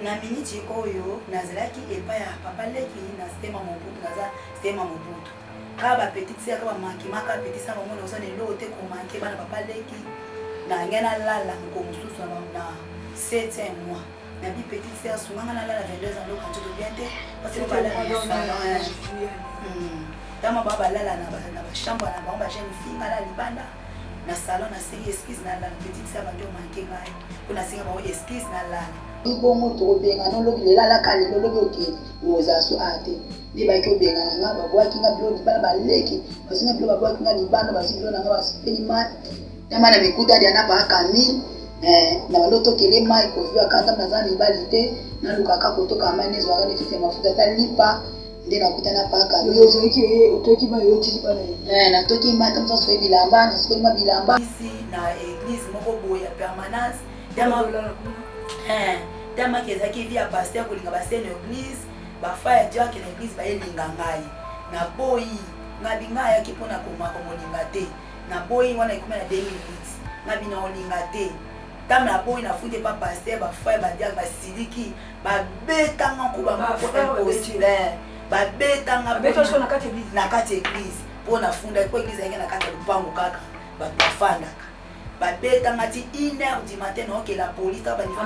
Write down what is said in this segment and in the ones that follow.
Na miniti oyo nazelaki epai ya papa leki na stema mobutu naza stema mobutu kaka ba petite sœur kaka ba manki maka petite sœur bango naosa na eloko te ko manke bana papa leki na ngai nalala moko mosusu na na 7e mois na bi petite sœur sunganga nalala 22 ans loka nzoto bien te parce que balala na salon tama ba balala na ba na ba chambre na bango ba jeune fille ngala libanda na salon na sei excuse na la petite sœur ba to manke ngai Kuna singa bango excuse na lala. Ibongo tokobengana olobi lelalaka lelo olobi oke ozala so aya te nde bayaki obengana nga babwaki nga bilo libala baleki bazwi nga bilo babwaki nga libala bazwi bilo na nga basopeli mai na mai na mikuta dia na baa camille eh, na balotokele mai kozuaka ata naza mibali te nalukaka kotoka mai nezwaka nefiti ya mafuta ata lipa nde nakuta na paka ozoki oye otoki ba yotili bana eh, natoki mata mosa soki bilamba nasokoli ma bilamba isi na eglise moko boye ya permanence damaki eh, ezalaki vi ya paster kolinga basene eglise bafa ya diake na eglise bayelinga ngai naboyi ngabi ngai ayaki mpo na komaka molinga te naboyi wana ekomi na 2008 ngabi na olinga te ntango naboyi nafundi epa paster bafa ya badiake basiliki babetanga nkuba moko impossible babetanga na kati ya eglise mpo nafundaki mpo eglise ayaki na kati ya lopango kaka bato bafandaka babetanga ti une heure du matin naokela poli ta baniva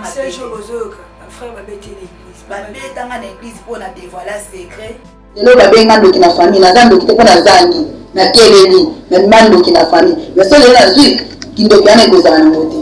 babetanga na eglise mpo na devoila secret lelo babenga ndoki na famille naza ndoki te mpo nazangi nakeleli namima ndoki na famille mais so lelo nazwi kindoki wana ekozala nango te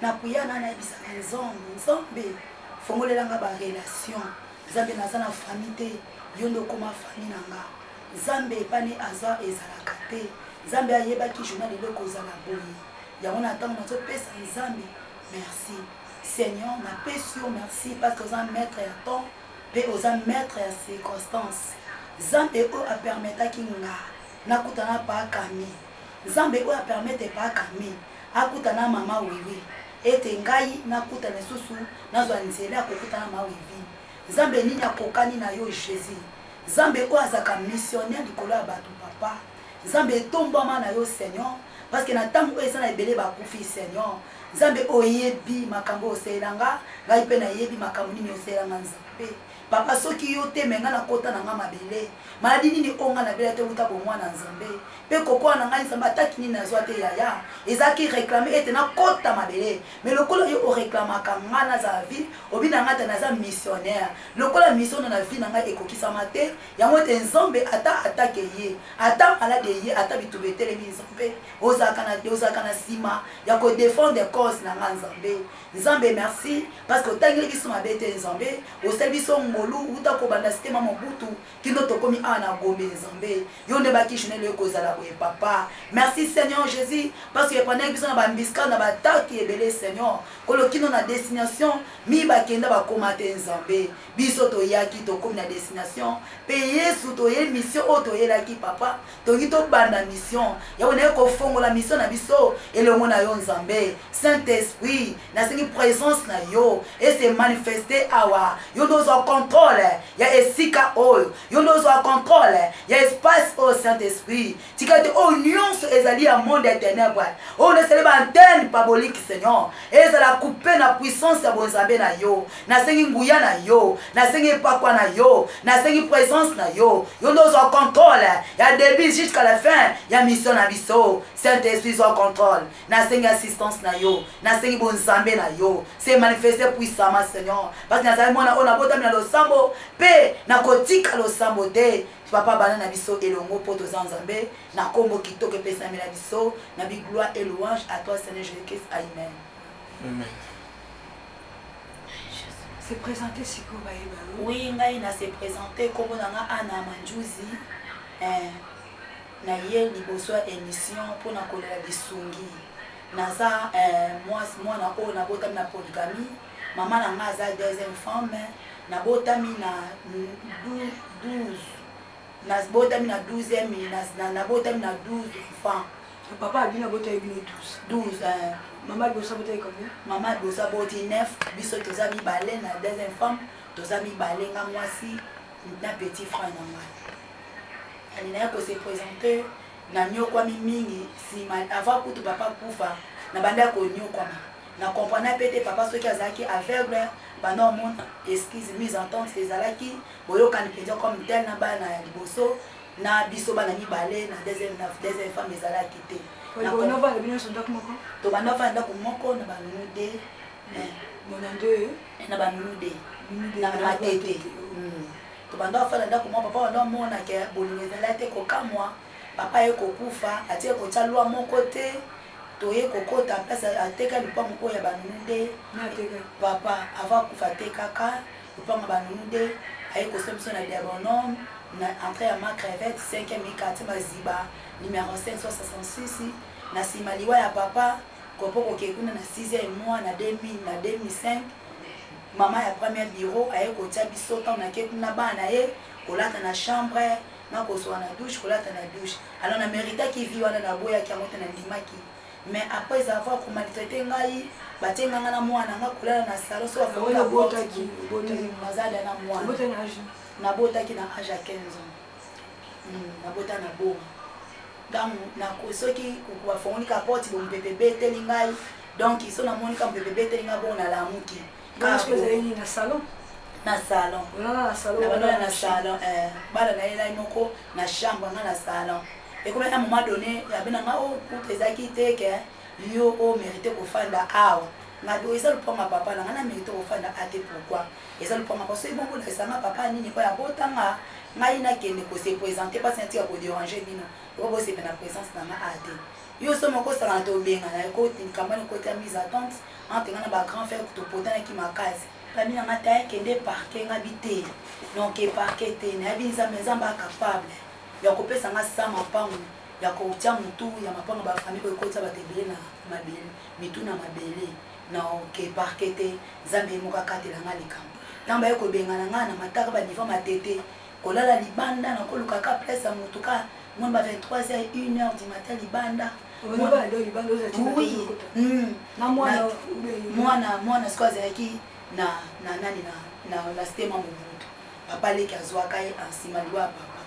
Nakuya na nayebisa na nzambe nzambe fongolela nga ba relation nzambe naza na famille te yonde okoma famille na nga nzambe epane aza ezalaka te nzambe ayebaki jouna lelo ekozala boye yango na ntango nazopesa nzambe merci seigneur napesi yo merci parce que oza maître ya temps mpe oza maître ya circonstance nzambe oyo apermetaki nga nakutana paakami nzambe oyo apermete paakami akuta na mama Wiwi ete ngai nakuta lisusu nazwa nzela ya kokuta na ma Wivi nzambe nini akokani na yo Jesus nzambe oyo azaka missionnaire likolo ya batu papa nzambe etombwama na yo seigneur parce que na tango oyo eza na ebele bakufi seigneur nzambe oyebi makambo oyo osalela nga ngai mpe nayebi makambo nini osalela nga nzambe Papa soki yo te mais nga na kota na nga mabele maladie nini oyo nga na bela te wuta bomwana nzambe pe kokoa na ngai nzambe ataki nini na zua te yaya ezalaki reclame ete na kota mabele mais lokola yo o reclamaka nga na za vie obi na nga te na za missionnaire lokola mission na vie na ngai ekokisama te yango ete nzambe ata atake ye ata malade eye ata bituba etelemi nzambe ozalaka na ozalaka na sima ya ko defendre cause na nga nzambe Nzambe merci parce que otangeli biso mabe te nzambe osali biso ngolu uta kobanda site ma mobutu kino tokomi awa na gombe nzambe yo nde bakishonelo ekozala boye papa merci seigneur jésus parce que epandaki biso na bambiska na bataki ebele seigneur kolo kino na destination mi bakenda bakoma te nzambe Biso toyaki tokomi na destination pe yesu toye mission oyo toyelaki papa tolingi tobanda mission ya oyo naye kofongola mission na biso elongo na yo nzambe saint esprit nasengi presence na yo ese manifeste awa yo nde ozwa controle ya esika oyo yo nde ozwa controle ya espace oyo saint esprit tika te oyo nyonso ezali ya monde ya tenebre oyo nasali baantene paboliki seigneur ezala kupe na puissance ya bonzambe na yo nasengi nguya na yo nasengi epakwa na yo nasengi presence na yo yo nde ozwa controle ya debut jusqu'à la fin ya mission na biso saint esprit zwa controle nasengi assistance na yo nasengi bonzambe na yo se manifeste puissamment seigneur parce nazali mwana oyo nabotami na losambo mpe nakotika losambo te Papa banda na biso elongo po toza nzambe na kombo kitoko epesami na biso na bi gloire et louange a toi seigneur Jesus Christ aimen. Amen. Se presenter sikoyo bayeba yo. Oui ngai na se presenter kombo na nga Anna Manjuzi eh, na ye liboso ya emission po na kolela lisungi naza eh, mwana oyo nabotami na polygamie Maman na nga aza deuxième femme, na botami na 12 na botami na 12e na na botami na 12 enfants. Papa abino abotaki bino 12. 12 euh, Maman Bosa abotaki combien? Maman Bosa aboti 9, biso toza mibale na deuxième femme, toza mibale nga mwasi na petit frère na ngai. Yani naye ko se présenter na nyokwami mingi sima avant kutu papa kufa na banda ko nyokwama. Na comprena pe te papa soki azalaki aveugle banda omona excuse mise en tente ezalaki boyokani penza comme tel na bana ya liboso na biso bana mibale na deuxième na deuxième femme ezalaki te na tobanda ofanda ndaku moko na ba nounou de eh, na ba nounou de na matete hmm. tobanda ofanda ndaku moko papa banda omona ke bolingo ezalaki te kokamwa papa ye kokufa atie kotya lwa moko te toye kokota place ateka lupangu oyo ya banunu nde papa avant akufa atekaka lupangu ya banunu nde aye kosa biso na deronome na entrée ya ma crevette 5e mi quartier maziba numero 566 na nsima liwa ya papa kopo kokei kuna na 6e mois na 2000 na 2005 mama ya premier bureau aye kotya biso ntango nake kuna bana na ye kolata na chambre Nako soa na douche, kolata na douche. Alors na meritaki vie wana, na boyaki yango te, na ndimaki. Mais après avoir ko maltraiter ngai, ba tie nga na muana na nga kolala na salon, soki ba fongoli la porte boye, naza dejà na muana. Na botaki na age ya 15 ans. Na bota na boma. Tangu nako soki ba fongoli ka porte boye, mupepe ebeteli ngai, donc soki na moni ka mupepe ebeteli ngai bongo na lamuki. Bana sikoyo ezali nini na salon? na salon Olala na salon, na bana olala na na chambre. salon eh, bana na ye nai moko na chambre nga na salon ekomaki na moment donné abena nga o kuta ezalaki te ke yo o merite kofanda awa nga do eza lopango ya papa na nga na merite kofanda a te pourquoi eza lopango ya papa soki bongo olakisa nga papa nini oyo abota nga ngai nakende ko se présenter mpasi natika ko déranger bino oyo bosepela na présence na nga a te yo so moko osangana tobengana ekoti likambo wana ekoti ya mise à tente Nga pe nga na ba grand frère to potanaki makasi ba mi na nga taille kende parquet nga bi te non ke parquet te na yebi nzambe nzambe a capable ya ko pesa nga sans mapangu ya ko tia mutu ya mapangu ya ba famille oyo ekotisa batu ebele na mabele mitu na mabele non ke parquet te nzambe ye moko a katela nga likambo tangu ba ye ko bengana nga na mataka ba niveau ya matete Kolala libanda na koluka ka place ya mutu ka moins ba 23 heure une heure du matin libanda mwana mwana sikoyo azalaki na na nani na na na stema mobutu papa leki azwaka ye nsima liwa ya papa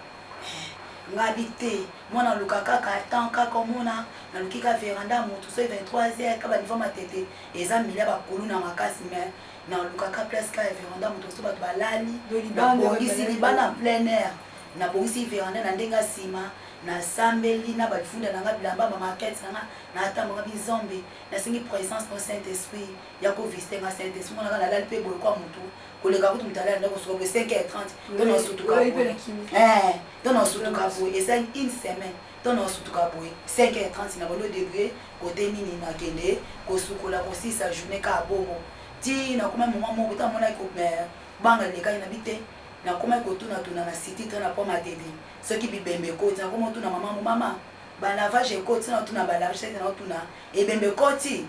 eh, ngabi te mwana aluka kaka temps kaka omona naluki ka veranda motu soki 23 heure ka banivo matete eza milia bakulu na makasi mais nalukaka place kaka ya veranda moto mosusu bato balali nabongisi libanda en plein air nabongisi veranda na ndenge ya nsima nasambeli na balifunda na nga bilamba bamarkete na nga natambaka bizombe nasengi présence no saint esprit ya kovisite nga saint esprit monaka nalali mpe boye kwa motu koleka kutu moto alali ndako suka boye 5 heure 30 to nasutuka boye to nasutuka boye esali une semaine Ton oyo sutuka boye 5h30 na bolo debrie cote nini na kende ko sukola ko silisa journee kaka bongo ti na komaki moment moko ta monaki ko banga elekaki na bite na komaki ko tuna tuna na sititre na pont matedi soki bibembe ekoti na komo tuna maman ngo maman ba lavage ekoti na tuna ba lavage na tuna ebembe ekoti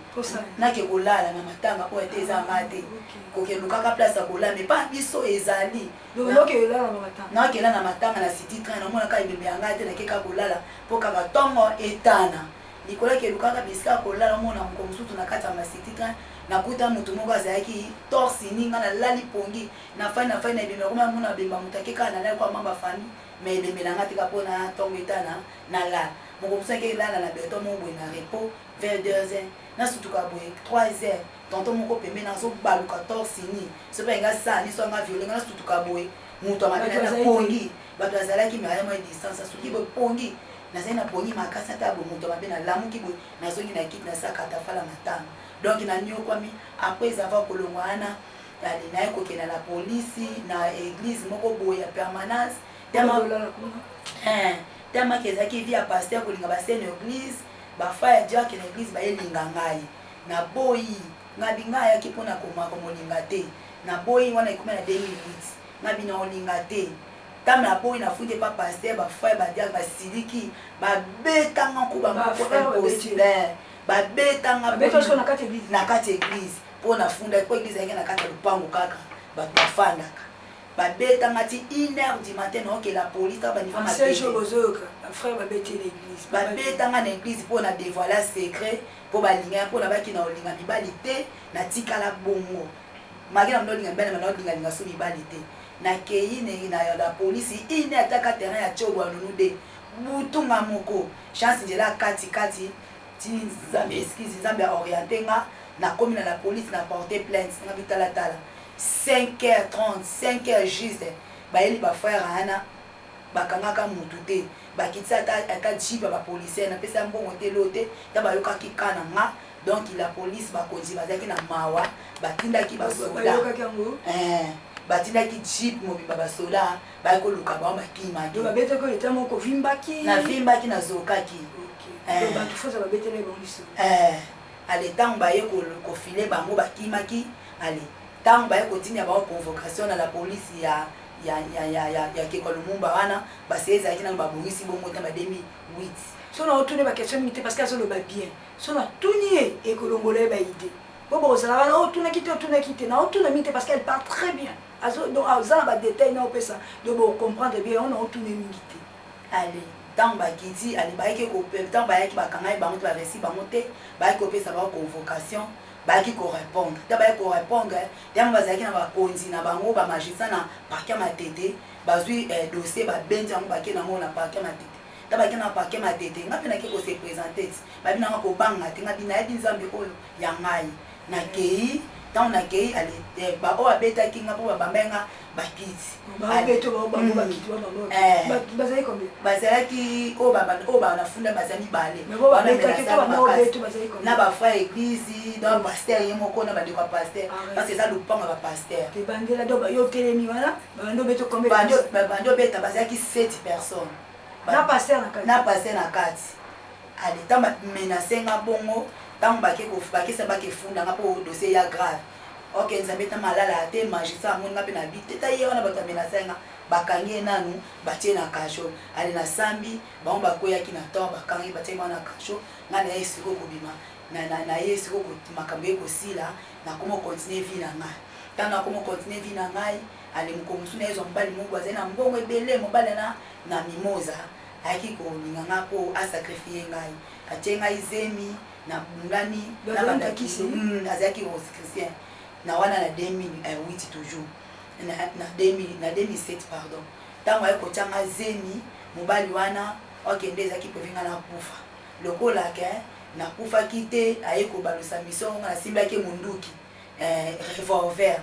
na ke ko lala na matanga po ete eza nga te ko ke lukaka place ya ko lala mais pa biso ezali Donc yo ke olala na matanga. Na kela na matanga na city train na mona ka ebembe ya ngai te na keka kolala po kaka tongo etana. Likolo ke lukaka bisika kolala mona moko mususu na kati ya ma city train na kuta mutu moko azalaki torse ni nga na lali pongi na fani na fani na ebembe na koma mona bemba mutu ake kaka na lali kwa mamba fami mais ebembe na nga tika po na tongo etana na lala. Moko mususu ake lala na beton moko boye na repos vers 2 heures na sutuka boye 3 heures Tonton moko pembeni azo baluka torse nu soki alingi asala nini soki alingi a violer nga na sutuka boye mutu ya mabe naye na pongi batu bazalaki mais aya mwa distance na sutuki boye pongi nazali na pongi makasi na tala boye mutu ya mabe na lamuki boye na zongi na kiti na sala katafala matanga donc na niokuami après avoir kolongwa wana yali naye kokenda na police na eglise moko boye ya permanence tellement eh, tellement que ezalaki vie ya pasteur kolinga basene eglise bafa ya diacre na eglise bayelinga ngai Na boyi ngabi nga ayaki pona koma komolinga te na boyi wana ekomi na 2008 ngabi na olinga te tame na boyi na fundi epa pasteur ba frère ba diacre ba siliki ba beta nga nkuba moko impossible ba beta nga na kati eglise pona funda po eglise ayaki na kati ya lupangu kaka ba bafandaka ba beta nga ti une heure du matin na okela police ta ba nifa ma beta nga na eglise pona devoiler secret po balinga ya po na baki na olinga mibali te na tikala bongo maki na olinga mibali na olinga linga so mibali te na keyi ne na ya la police ine ataka terrain ya cobo ya nunu de butu nga moko chance njela kati kati ti nzambe excuse nzambe a oriente nga na komi na la police na porte plainte nga bitala tala 5 heures 30 5 heures juste bayeli ba frère ana Bakangaka mutu te bakitisa ata ata jeep ya ba policier napesa ya mbongo te eloo te ta bayokaki cas na nga donc la police bakonzi bazalaki na mawa batindaki ba soda eeh batindaki jeep mobimba ba soda baye koluka bango bakimaki navimbaki nazokaki eeh ale tangu baye ko file bango bakimaki ale tangu baye kotinda bango convocation na la police ya ya, ya, ya, ya, ya Kekwa Lumumba wana, base ezalaki nanu babongisi bongo te ba 2008. Soki naotuna ye ba question mingi te parce que azoloba bien. Soki natuni ye, ekolongola ye ba idee. Bo bokozala wana, oh otunaki te, otunaki te. Naotuna mingi te parce qu'elle parle très bien. Azo, donc aza na ba details naopesa, donc boko comprendre bien, yango naotuna ye mingi te. Ale, tango ba Gidzi, ale bayaki ko, tango bayaki bakangaki bango te, ba resi bango te, bayaki kopesa bango convocation, Bayaki ko repondre te, bayaki ko repondre tango bazalaki na ba konzi na bango, ba magistrats na parquet ya Matete, bazui dossier ba bendi yango bake na ngo na parquet ya Matete. Tango bake na parquet Matete, nga pe nake ko se presenter, bayebi na nga ko banga te, nga nayebi Nzambe oyo ya ngayi. Nakeyi, tango nakeyi, ba oyo babetaki nga po ba bambaki nga, bakiti bazalaki oyo bana funda baza mibale na bafra eglise na bapaster ye moko na bandeko ya paster parce eza lopango ya bapasterbandi obeta bazalaki 7 personnes na paster na kati aleta menase nga bongo ntango bakesa bakefundanga mpo dosie ya grave Ok nzambe ta malala te magistrat amoni nga pe na bi te ta ye wana batu ba menace nga ba kangi ye nanu ba tie na cachot ale na sambi bango ba kweyaki na tort ba kangi ba tiaki bango na cachot nga naye sikoyo ko bima na na na ye sikoyo makambo eko sila na komo continue vie na nga tango na komo continue vie na ngai ale mokolo mosusu naye zwa mobali moko azali na mbongo ebele mobali ana na mimosa ayaki ko linga nga po a sacrifie ngai atie ngai zemi nabungani na balakisi hmm, nazalaki rosichristien na wana na 2008 toujours na 2007 pardon ntango aye kotya nga zemi mobali wana okende ezalaki mpe nga nakufa lokola ke nakufaki te aye kobalusa misongo nga nasimbaki monduki eh, revolver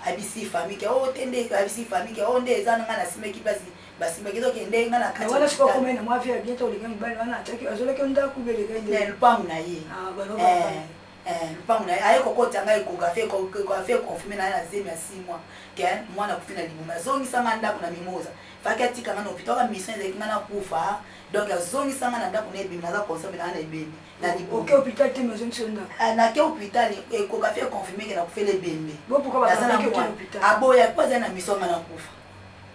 Abisi famille ke oh te nde abisi famille ke oh nde eza na nga na simeki basi basimba kizo ke nde nga na kati wala siko kome na mwafi ya bientôt olinga mobali wana ataki azolaki ndaku bele ke nde lupangu na ye ah ba no eh, eh lupangu na ye aye kokota ngai kokafe kokafe confirme na ye na zemi ya 6 mois ke mwana kufi na libuma azongisa nga ndaku na mimoza faki atika nga na hôpital ka mission ezalaki nga na kufa donc azongisa nga na ndaku na ebimi naza consombe na nga na ebimi na liboke oke hôpital te mais ozongi so ndako ah, nake hôpital ekoka fe confirme ke nakufela ebembe aboya po azali na miso nga nakufa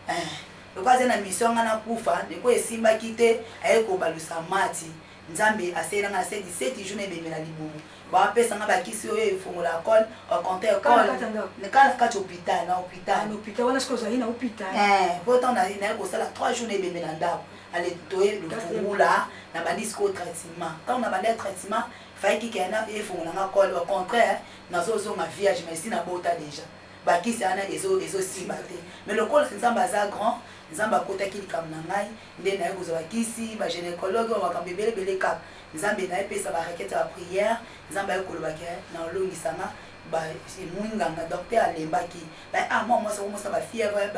eh, lokola azali na miso nga nakufa ndeko esimbaki te aye kobalusa mati nzambe aseyela nga na se 17 jour na ebembe na libumu bapesa nga bakisi oyo efongola col oconte kala kati hôpital na hôpital ah, po ntango naye kosala 3 jour na ebembe na ndako ale toye lufungula na bandi sikoyo traitement ntango na bandi ya traitement faye kikaya na efungola nga kole au contraire nazozonga vierge mais si na bota deja bakisi wana ezosimba te mais lokola nzambe aza grand nzambe akotaki likambo na ngai nde naye kozwa bakisi bagynécologue oyo makambo ebelebele kaka nzambe naye pesa barakete ya bapriere nzambe aye kolobaka na olongisanga mwinganga docteur alembaki ba ah mwa mwasi okomosana bafièvre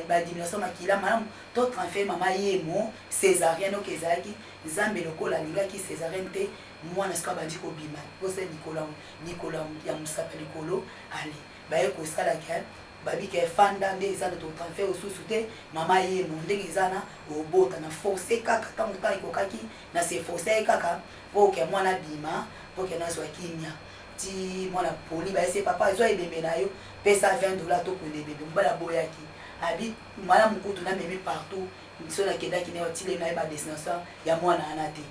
badiminution makila malamu To tranfer mama yemo cesarienne ok ezalaki nzambe lokola alingaki cesarienne te mwana sikoyo abandi kobima posa ya likolo ya likolo ya musaka likolo ale baye kosala ke babi ke fanda nde eza to tranfer osusu te mama yemo ndenge eza na obota na force kaka tango temps ekokaki na se force ye kaka po ke mwana abima po ke nazua kimia ti mwana poli baye se papa zua ebembe na yo pesa 20 dollars tokunda ebembe mobali aboyaki abi Malamu kutu na memi partout biso na kendaki na batile na ye ba destination ya mwana wana te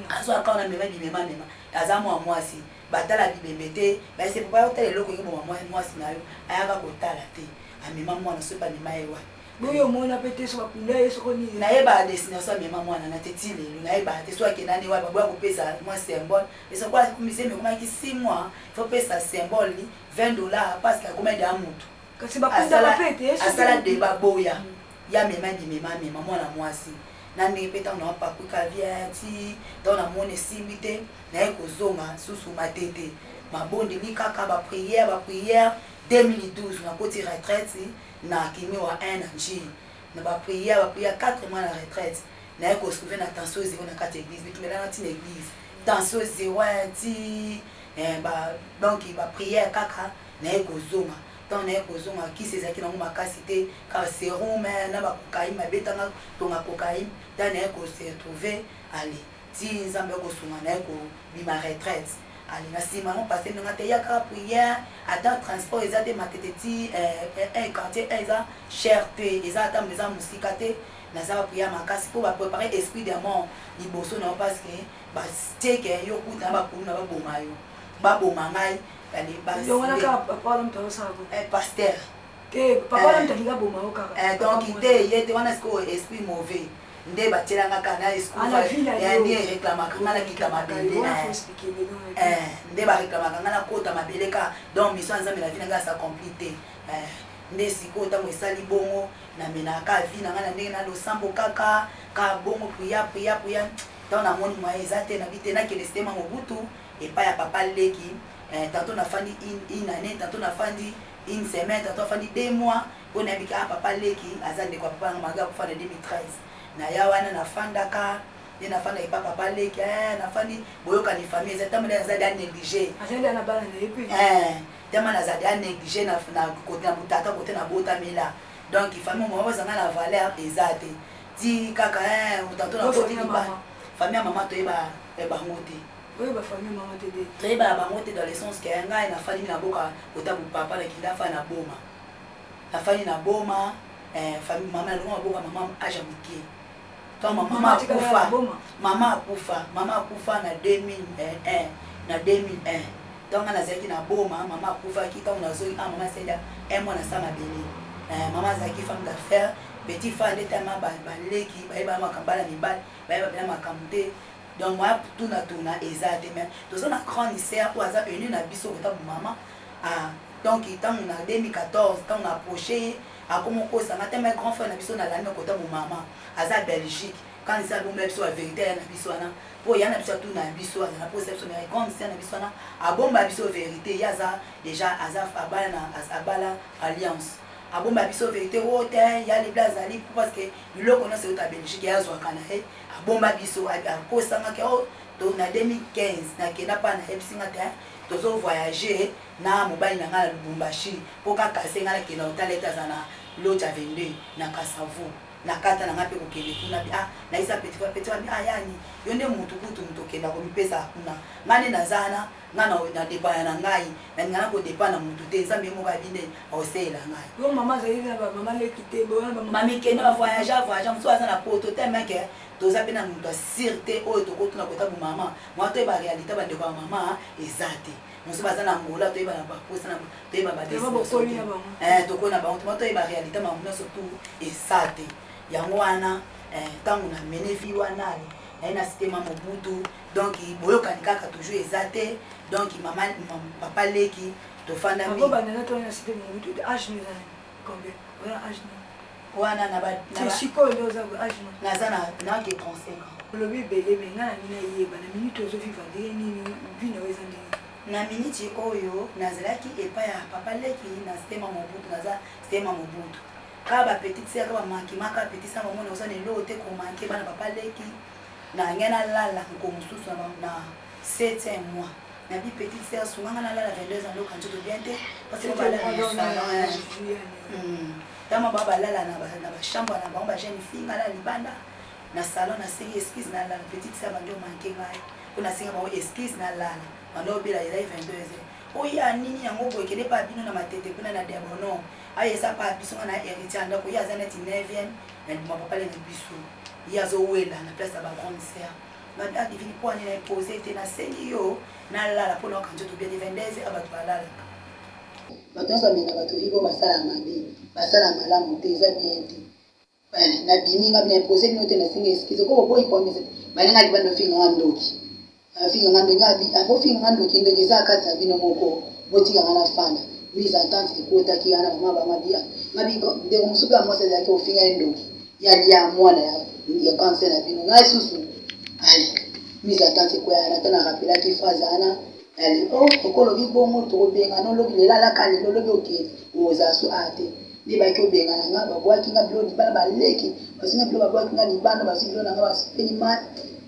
azwa akao na mema bimema mema aza mwa mwasi batala bibembe te baise papa yo tala eloko yongo boma mwasi na yo ayaka kotala te amema mwana soki bamema ye wapi boyo omona mpe te soki akunda ye soko nini nayeba destination amema mwana na te ti lelo nayeba te soki akenda nde wapi baboya kopesa mwa symbole esoko akomiseme ekomaki 6 mois fopesa symbole ni 20 dollar parce que akomaki deya motu Kasi bakundaka asala mpe te ye asala soki- deba boya ye amema bimema amema mwana mwasi na ndenge mpe ntango napaku caviar ti ntango namoni esimbi te naye kozonga susu matete mabondeli kaka ba prière ba prière 2012 nakoti retraite na kimiwa 1 na nji na ba prière ba prière 4 mois na retraite naye ko retrouver na tension zero na kati ya église bitumelanga ti na église tension zero ti eh, ba donc ba prière kaka naye kozonga tango naye kozonga kisi ezalaki nango makasi te kaka serum na ba cocaine babeta nga tonga cocaine ta naye ko se retrouve ale ti nzambe oko sunga naye ko bima retraite ale na sima yango pasteur nanga te ya kaka prière ata transport eza te matete ti eh quartier eh eza cher te eza ata eza musika te naza ba prière makasi po ba preparer esprit de mort liboso na yo parce que ba tie ke yo kuta na ba kulu na ba boma yo ba boma ngai nde batielanga kaka na eskuani ereklamaka nga nakita mabele eh, nde bareklamaka nga nakota mabele kaka donc miso ya nzambe na vi na nga asa compli te eh, nde sikoyo ntango esali bongo namenaka vi na nga na ndenge na losambo kaka kaka bongo priya priya priya ntango namoni mwaye eza te nabi te nakende sitema mobutu epai ya papa leki eh, tanto nafandi une annee tanto nafandi une semaine tanto afandi deux mois mpo nayebi ke ah papa leki aza ndeko ya papa yango malgre akufa na 2013 naya wana nafandaka ye nafanda epa papa leki eh, nafandi boyokani famille eza ntango nde nazali anéglige ntango nazali anéglige na kote na botata kote nabotamela donc famille moko ezanga na valeur eza te ti kaka eh, tanto nakoti libala famille ya mama toyeba eh, bango te oyeba famille mama te te toyeba na bango te dans le sens que ngai na fandi na boka kota bu papa na kila fa na boma na fandi na boma eh, famille mama na longa boka mama aja mukie quand mama akufa mama akufa mama akufa na 2001 na 2001 ntango nga nazalaki na boma mama akufaki ntango nazoi a ah, mama asenda un mois na sa mabele eh, mama azalaki femme d'affaire petit fa nde tama baleki bayeba makambo bana mibali bayeba bela makambo te Donc ba tuna tuna eza te mais toza na grande sœur oyo aza venue na biso kota bu mama a donc tangu na 2014 tangu na approche ye akomo kosa nga te mais grand frère na biso na landa kota bu mama aza Belgique quand esa bombela biso ba verite ya na biso wana po ya na biso atuna na biso azana posa biso mais grande sœur na biso wana abomba biso verite ye aza déjà aza abala na abala alliance abomba biso verite oyo te ya libla azali parce que biloko nyonso euta Belgique ye azwaka na ye abomba biso akosanga ke oh, to na 2015 nakenda pa nayebisi nga te tozo voyage na mobali na ngai na lubumbashi mpo kaka se ngai nakenda kotala ete aza na loja 22 na kasavu nakata na ngai mpe kokende kuna bi ah nayisa petit frère petit frère ah yani yo nde mutu kutu mutu okenda komipesa kuna ngai nde naza wana Nga na na depana na ngai na linga na ko depa na mutu te nzambe ye moko ayebi nde akoselela ngai. Yo maman azali na ba maman leki te boye wana ba maman. Mami kende ba voyage voyage mususu aza na poto tellement que toza pe na mutu ya sur te oyo toko tuna kota bu maman mua toyeba realite ba ndeko ya maman eza te mususu baza na angola toyeba na ba posa na toyeba ba destination te eh tokoli na bango te mua toyeba realite makambo nionso tout eza te yango wana eh tangu na mene fille wana na ye na site ma mobutu Donc boyokani kaka toujours eza te donc maman papa leki tofanda mingi. Akoba nana to na site mu tout âge ni nani combien wana âge ni wana na ba na siko ndio za âge ni na za na na ke 35 ans. Lobi belé mais ngana ni na yeba na minute ozo vivre de ni ni vie na weza ndenge na miniti oyo nazalaki epai ya papa leki na stema mobutu naza stema mobutu kaka bapetite seka bamanke maka apetite sa bamona oza na eloo te komanke bana papa leki Na ngai na lala mokolo mosusu na septième mois na bi petite sœur sunga ngai na lala 22 ans loka nzoto bien te parce que ba lala na salon tama ba ba lala na ba na ba chambre na bango ba jeune fille ngai na libanda na salon na sengi excuse na lala petite sœur bandi omanke ngai mpo na senga bango excuse na lala bandi obela lela 22 ans oya nini yango boye kende pa bino na matete kuna na debono aye eza pa biso nga na héritier ya ndako ye aza neti 9e na ndima papale na biso ye azo wela na place ya ba grande sœur ma mère divine poani na ye pose te na sengi yo na lala po na yoka nzoto bien te 22 heures batu ba lalaka batu nionso ba meka ba toli po ba sala mabe ba sala malamu te eza bien te na bimi nga na impose bino te na sengi excuse ko bo boyi ko baninga libanda ofinganga ndoki. Afinga nga ndenge abi ako finga nga ndoki ndeke eza kati na bino moko botika nga na fanda mise en tente ekotaki ya na mama ba mabia mabi ndeko mususu pe amwasi azalaki ofinga ye ndoki ya lia mwana ya ya cancer na bino ngai susu ali mise en tente ekoya na tana rapelaki phrase ana ali o oh, okolobi bongo tokobenga no lobi lela laka lelo lobi oke ozala so a te nde baki obenga na nga babwaki nga bilo libala baleki basinga bilo babwaki nga libanda basi bilo na nga basepeli mai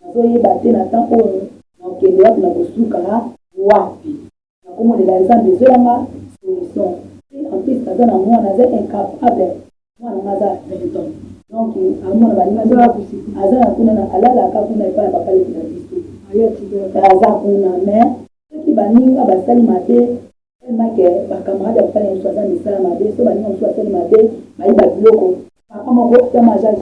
Nazo yeba te na temps oyo nako kende wapi nako suka wapi nako monela nzambe zuela nga solution pe en plus naza na muana aza incapable muana nga aza 20 ans donc amona baninga aza wapi aza na kuna na alala ka kuna epa ya papa leki na biso aza kuna mais soki baninga basali mabe Tellement que ba camarade ya papa na ye mususu aza misala mabe soki baninga mususu basali mabe bayiba biloko, papa moko ya major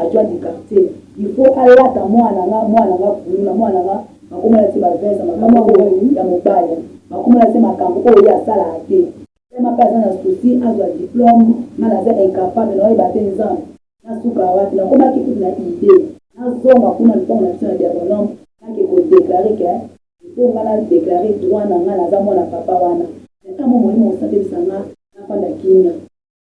adjoint du quartier il faut alata mwana na nga mwana na nga kuluna mwana na nga bakomona tse ba veste ya makambo oyo ya mobali bakomona tse makambo oyo ye asalaka te. Tellement pe aza na souci azwa diplome nga naza incapable nao yeba te nzambe na suka wapi nakomaki kutu na idee na zonga kuna na lupangu na biso na diagonome nake ko declare que Po nga na declare droit na nga naza mwana papa wana. Na tango molimo mosambelisa nga na fanda kimia.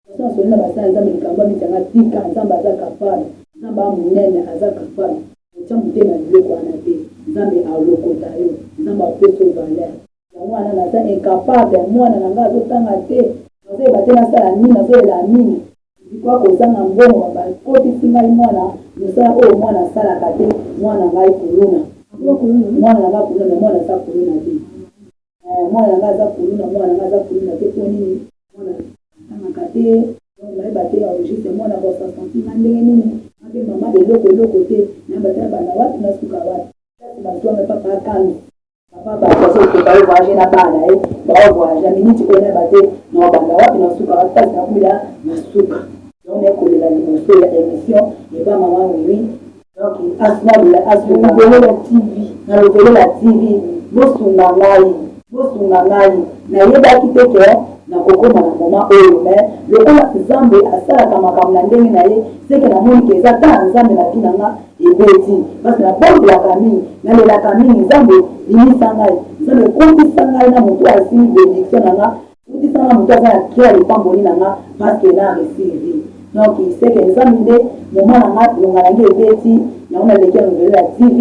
Façon na soli na ba sala nzambe likambo amiti ya nga tika nzambe aza capable nzambe a munene aza capable kotia motema ya biloko wana te nzambe a lokota yo nzambe a pesa yo valeur yango wana naza incapable mwana na nga azo tanga te nazo yeba te na sala nini nazo lela mingi Pourquoi kozanga mbongo ba kotisi ngai mwana musala oyo mwana asalaka te mwana na ngai kuluna mwana na ngai kuluna mais mwana aza kuluna te eh mwana na ngai aza kuluna mwana na ngai aza kuluna te po nini mwana atangaka te donc nayeba te au juste mwana ako se sentir ngai ndenge nini ngai pe maman eloko eloko te nayeba te nabanda wapi nasuka wapi place bazua ngai papa akambi Papa batu bazo koka yo voyage na bana ye bao voyage ya minute ko na bate na obanda wapi na suka wapi pasi na kumila na suka donc na kolela liboso ya emission eba maman mimi donc asuna lela asuna lobelela tv na lobelela tv bosunga ngai bosunga ngai nayebaki te ke nakokoma na moma oyo me lokola nzambe asalaka makambo na ndenge na ye seke namoni ke eza kaka nzambe na vi na nga ebeti pasi na bondelaka mingi na lelaka mingi nzambe bimisa ngai nzambe kotisa ngai na moto asili benediction na nga kotisa nga moto aza na cri ya lipamboli na nga paske na resivi donc seke nzambe nde moma na nga longa na ngai ebeti yango naleki ya novele ya tv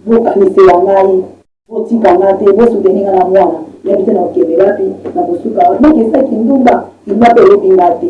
bokanisela ngai botika nga te bosuteni nga na mwana yabi te na kokende wapi na kosuka wapi donc eza kindumba kindumba mpe eyebi nga te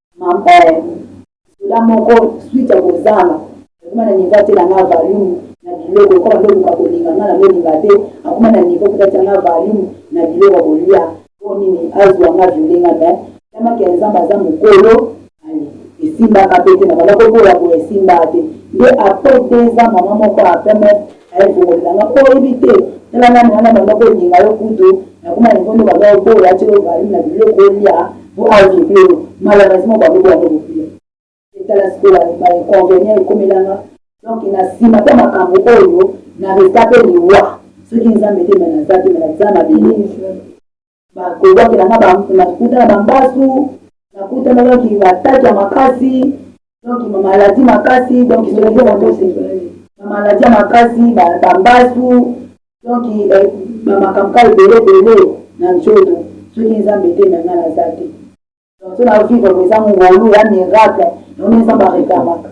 Maman eh soda moko suite ya kozanga akoma na niveau atela nga valumu na biloko ekoma nde oluka kolinga nga na bolinga te akoma na niveau kuta tia nga valumu na biloko ya kolia po nini azua nga viole nga me yamaki ya nzambe aza mokolo ale esimbaka pe te na banda koboya boye esimbaka te nde apres deux ans mama moko ya pemf Aye kobota nga po oyebi te tala nanu wana abanda kolinga yo kutu na kuma niveau nde obanda oboya atie yo value na biloko olia po a vible yo malheureusement obanda oboya nde bopia te tala sikoyo ba inconvenient ekomela nga donc na sima pe makambu oyo na resta pe liwa soki nzambe te me naza te me na za mabele. Ba kobwakela nga ba na kuta na ba mbasu na kuta na donc ba tatu ya makasi donc ma maladie makasi donc je le dis en tous ma maladie ya makasi ba ba mbasu donc eh, ba makambo ka ebele ebele na nzoto soki nzambe te na nga naza te donc so na vivre ko eza ngolu ya miracle yango nzambe arekamaka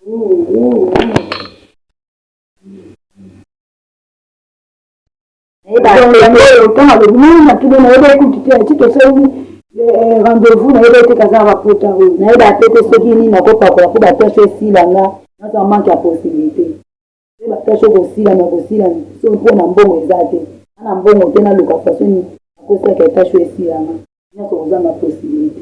Oh, oh, oh. ntango alobi nini natuni nayebaki kutu te ati tosali eh, rendez-vous nayebaki te kazaka bapota oyo nayebaka te te soki nini nakopakola mpo batashe esila nga naza manke ya possibilité mpe batashe okosila na kosila so mpo na mbongo eza te ana mbongo te naluka façon akosaka etashe esila nga nyonso kozanga possibilité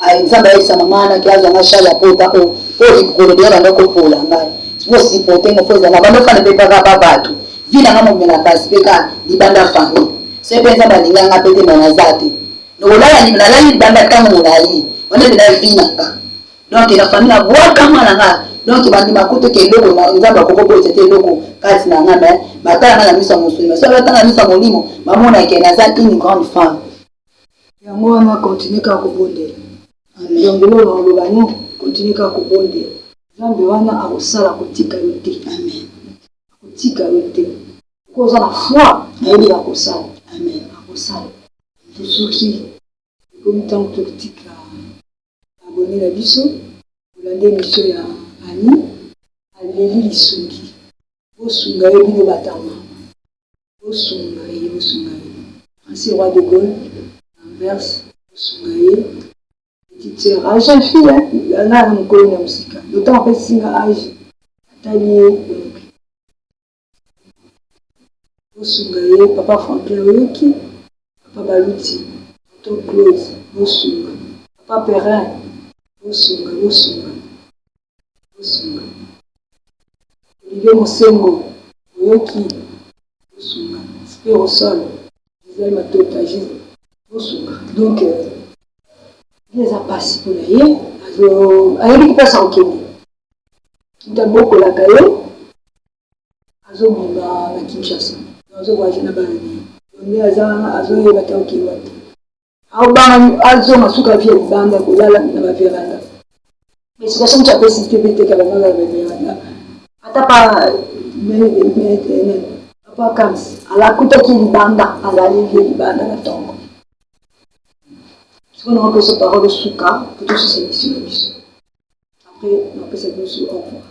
Ayi nzambe ayebisa mama na ke azwa nga charge ya pota o po likolo deya banda kopola ngai po sipote ngo fo ezala banda fana mpe kaka ba bato vi na nga momela kasi mpe ka libanda fami se mpe nzambe alinga nga mpe te ma naza te nokolala nalali libanda ntango molai wana mpe na vi na nga donk na fami na bwaka mwana nga donc bandima kutu ke eloko na nzambe akoki obotisa te eloko kati na nga me batala nga na miso ya mosuni me soki batanga miso ya molimo bamona ke naza une grande femme Yango wana continue kaka kobondela. Longola na maloba no continue kaka kobondela. Nzambe wana akosala akotika yo te amen akotika yo te soki oza na foi nayebi akosala amen akosala. Tosuki ekomi tango totika. abonne na biso bolanda emission ya Anny aleli lisungi bosunga ye bino ba tama bosunga ye bosunga ye Francis roi de Gaulle Anvers bosunga ye petite sœur a jeune fille hein nga na mokolo na musika d'autant apesi nga age atali ye bosunga ye papa franklin oyoki papa baluti tonton claude bosunga papa perrin bosunga bosunga bosunga olivier mosengo oyoki bosunga spirosol gisele matota gisele bosunga donc euh, eza mpasi mpo na ye ayebi kopesa kokende mutu abokolaka ye azo bima na Kinshasa azo voyage na bana naye nde aza wana azo yeba te akeyi wapi azo banga azonga suka vie libanda kolala na ba veranda explication mutu apesi te pe teka bango na ba veranda ata pa papa kams alakutaki libanda alali vie libanda na tongo sikoyo na opesa parole suka po tosusa emission na biso Après na pesa bino su au revoir.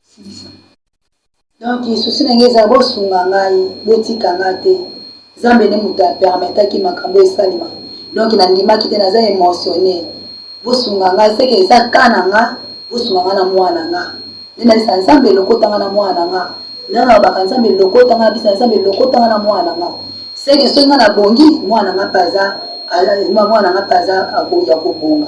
Silisa. Donc souci na ngai eza bosunga ngai, botika ngai te. Zambe nde moto a permetaki makambo esalema. Donc na ndimaki te naza emotionne. Bosunga ngai seke eza cas na nga, bosunga ngai na mwana na nga. Nde nalisa Nzambe lokota ngai na mwana na nga. Nde nalobaka Nzambe lokota ngai na bisa Nzambe lokota ngai na mwana na nga. Seke soki ngai na bongi, mwana na nga mpe aza mwana na nga mpe aza ya kobonga.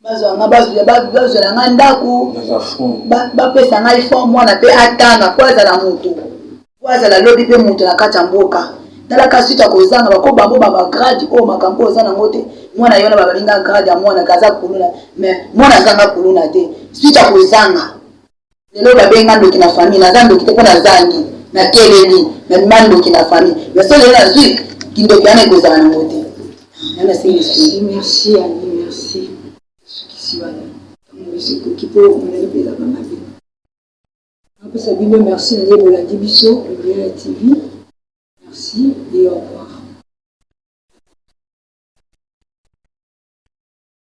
bazwa nga bazwela nga ndako bapesa ngai fond mwana mpe atanga mpo azala motu mpo azala lobi mpe moto na kati ya mboka talaka suite ya kozanga bako bango babagrade oyo makambo oyo oza nango te mwana yona babalinga grade ya mwana kaza kuluna mais mwana azanga kuluna te suite ya kozanga Lelo ba bengi nga ndoki na famille naza ndoki te po na zangi na keleli na bima ndoki na famille mais soki lelo nazui kindoki wana ekozala na ngo te nga na sengi lisusu merci annie merci sukisi wana tango esi ekoki po omoni pe ezaka mabe napesa bino merci na nde bolandi biso Liliana TV merci et au revoir